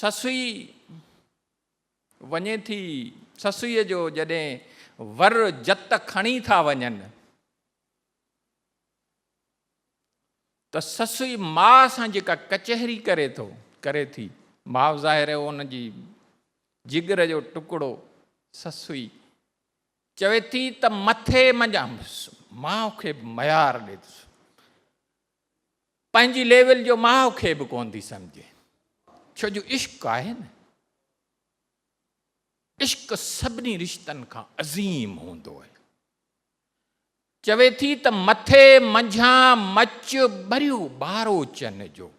سسئي وڃي ٿي، سسئيء جو جڏهن ور جت کڻي ٿا وڃن ته سسئي ماء سان جيڪا ڪچهري ڪري ٿو، ڪري ٿي، ماء ظاهر هو ان جي جگر جو ٽڪڙو، سسئي چوي ٿي ته مٿي منجهان ماء کي ميار ڏي ٿو. پنهنجي ليول جو ماء کي به ڪونه ٿي سمجهي ڇو جو عشق آهي نه عشق سڀني رشتن کان عظيم هوندو آهي چوي ٿي ته مٿي منجهان مچ بريو بارو چن جو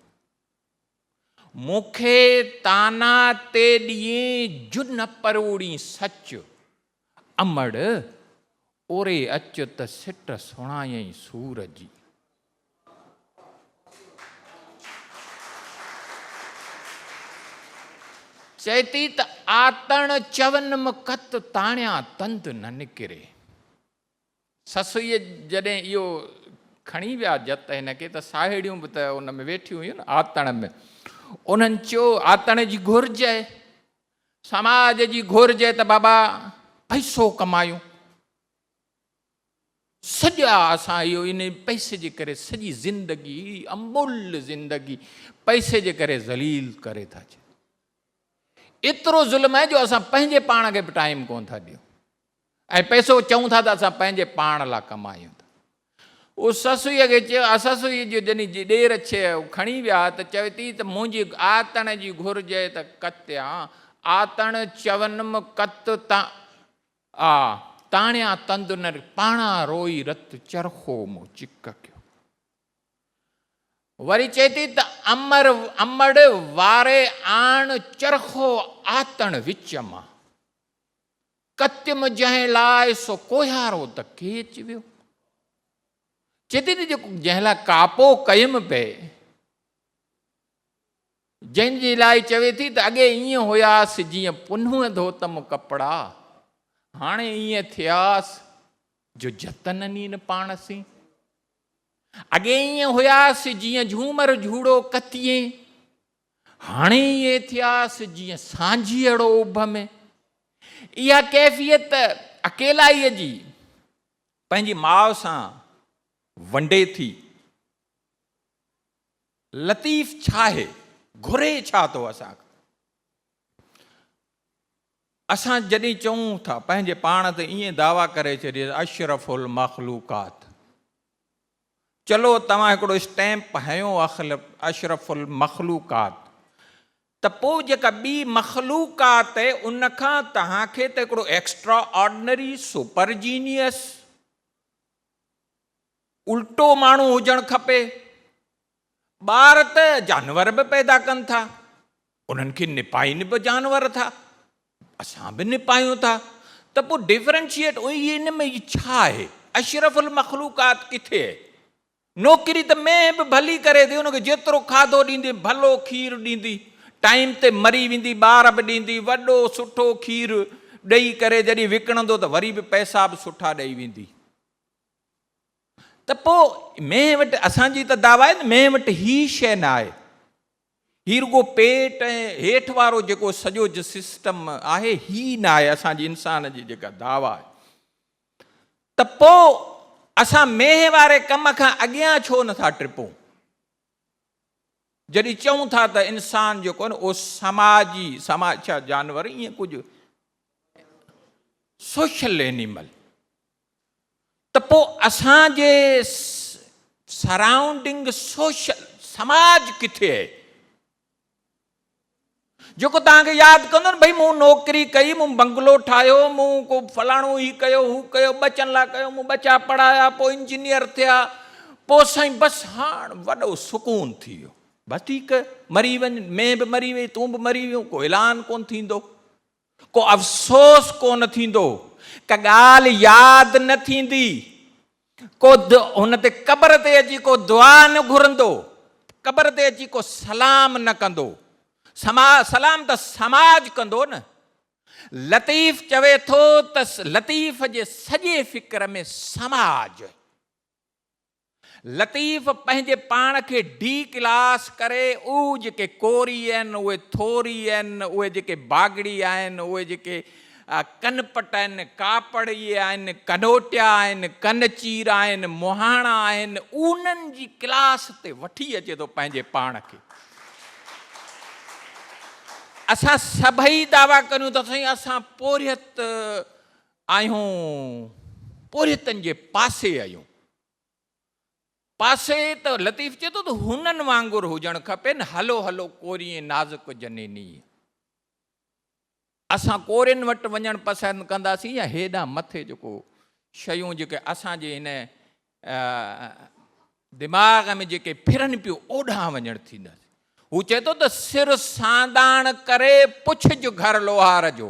مون کي تانا تي ڏيين جو نه پروڙين سچ. امڙ! اوري اچ ته سٽ سڻايئين سور جي. چئي ٿي ته آتڻ چون مڪت تاڻيان تند نه نڪري. سسئيء جڏهن اهو کڻي ويا جت ته هن کي ته ساهيڙيون به ته ان ۾ ويٺيون هيون نه آتڻ ۾. انهن چيو، آتڻ جي گهرج آهي، سماج جي گهرج آهي ته بابا پئسو ڪمايون. سڄا اسان اهو انهي پئسي جي ڪري سڄي زندگي اهڙي اموليء زندگي پئسي جي ڪري ذليل ڪري ٿا ڇڏيون. ايترو ظلم آهي جو اسان پنهنجي پاڻ کي به ٽائيم ڪونه ٿا ڏيون. ۽ پئسو چئون ٿا ته اسان پنهنجي پاڻ لا ڪمايون ٿا. هو سسئيء کي چيو آ سسئي جو جني جي ڏير ڇي هو کڻي ويا ته چوي ٿي ته منهنجي آتڻ جي گهرجئ ته ڪتيان آتڻ چونم ڪت تا آ تاڻيان تند نه پاڻا روئي رت چرخو مون چڪ ڪيو. وري چئي ٿي ته امر امڙ واري آڻ چرخو آتڻ وچ مان. ڪچم جنهن لاء سو ڪوهيارو ته ڪيچ ويو. چي ٿي ته جيڪو جنهن لاء ڪاپو ڪيم پئي، جنهن جي لاء چوي ٿي ته اڳي ائين هياس جيئن پنهون ڌوتم ڪپڙا، هاڻي ائين ٿياس جو جتن نين پاڻ سين. اڳي ائين هياس جيئن جهومر جهوڙو ڪتيين، هاڻي اهي ٿياس جيئن سانجهيئڙو اڀ ۾. اها ڪيفيت اڪيلائيء جي پنهنجي ماء سان ونڊي ٿي. لطيف ڇاهي؟ گهري ڇا ٿو اسان کان؟ اسان جڏهن چئون ٿا پنهنجي پاڻ تي ائين دعويٰ ڪري ڇڏيس اشرف المخلوقات چلو توهان هڪڙو اسٽيمپ هنيو اشرف المخلوقات ته پوء جيڪا ٻي مخلوق آ ته ان کان توهان کي ته هڪڙو ايڪسٽرا آرڊنري سپر جينيئس الٽو ماڻهو هجڻ کپي. ٻار ته جانور به پيدا ڪن ٿا، انهن کي نپائين به جانور ٿا، اسان به نپايون ٿا ته پوء ڊفرينشيئيٽ ان ۾ ئي ڇا آهي؟ اشرف المخلوقات ڪٿي آهي؟ نوڪري ته مينهن به ڀلي ڪري ٿي، ان کي جيترو کاڌو ڏيندين ڀلو کير ڏيندي، ٽائيم تي مري ويندي ٻار به ڏيندي، وڏو سٺو کير ڏئي ڪري جڏهن وڪڻندو ته وري به پئسا به سٺا ڏئي ويندي. ته پوء مينهن وٽ اسان جي ته دعويٰ آهي نه مينهن وٽ هي شيء نه آهي. هي رڳو پيٽ ۽ هيٺ وارو جيڪو سڄو سسٽم آهي هي نه آهي اسان جي انسان جي جيڪا دعويٰ آهي. ته پوء اسان مينهن واري ڪم کان اڳيان ڇو نه ٿا ٽپون؟ جڏهن چئون ٿا ته انسان جيڪو آهي نه اهو سماجي، سماج ڇا جانور ائين ڪجهه سوشل اينيمل. ته پوء اسان جي سرائونڊنگ سوشل سماج ڪٿي اهي جيڪو توهان کي ياد ڪندو نه ڀئي مون نوڪري ڪئي مون بنگلو ٺاهيو مون ڪو فلاڻو هي ڪيو هو ڪيو ٻچن لاء ڪيو مون ٻچا پڙهايا پوء انجنيئر ٿيا پوء سائين بس هاڻ وڏو سڪون ٿي ويو وڌيڪ مري وڃ مين به مري وئي تون به مري ويون ڪو اعلان ڪون ٿيندو ڪو افسوس ڪو نه ٿيندو، ڪا ڳالهه ياد نه ٿيندي، ڪو هن تي قبر تي اچي ڪو دعا نه گهرندو، قبر تي اچي ڪو سلام نه ڪندو، سلام ته سماج ڪندو نه. لطيف چوي ٿو ته لطيف جي سڄي فڪر ۾ سماج. لطيف پنهنجي پاڻ کي ڊي ڪلاس ڪري اهو جيڪي ڪوري آهن اهي ٿوري آهن اهي جيڪي باگڙي آهن اهي جيڪي ڪنپٽ آهن ڪاپڙيي آهن ڪنوٽيا آهن ڪنچير آهن مهاڻا آهن اونهن جي ڪلاس تي وٺي اچي ٿو پنهنجي پاڻ کي اسان سڀئي دعويٰ ڪريون ته سائين اسان پورهيت آهيون پورهيتن جي پاسي آهيون. پاسي ته لطيف چئي ٿو ته هونئن وانگر هجڻ کپين، هلو هلو ڪوريين نازڪ جنيني. اسان ڪورين وٽ وڃڻ پسند ڪنداسين يا هيڏانهن مٿي جيڪو شيون جيڪي اسان جي هن دماغ ۾ جيڪي ڦرن پيون اوڏانهن وڃڻ ٿينداسين. هو چئي ٿو ته سر سانداڻ ڪري پڇج گهر لوهار جو.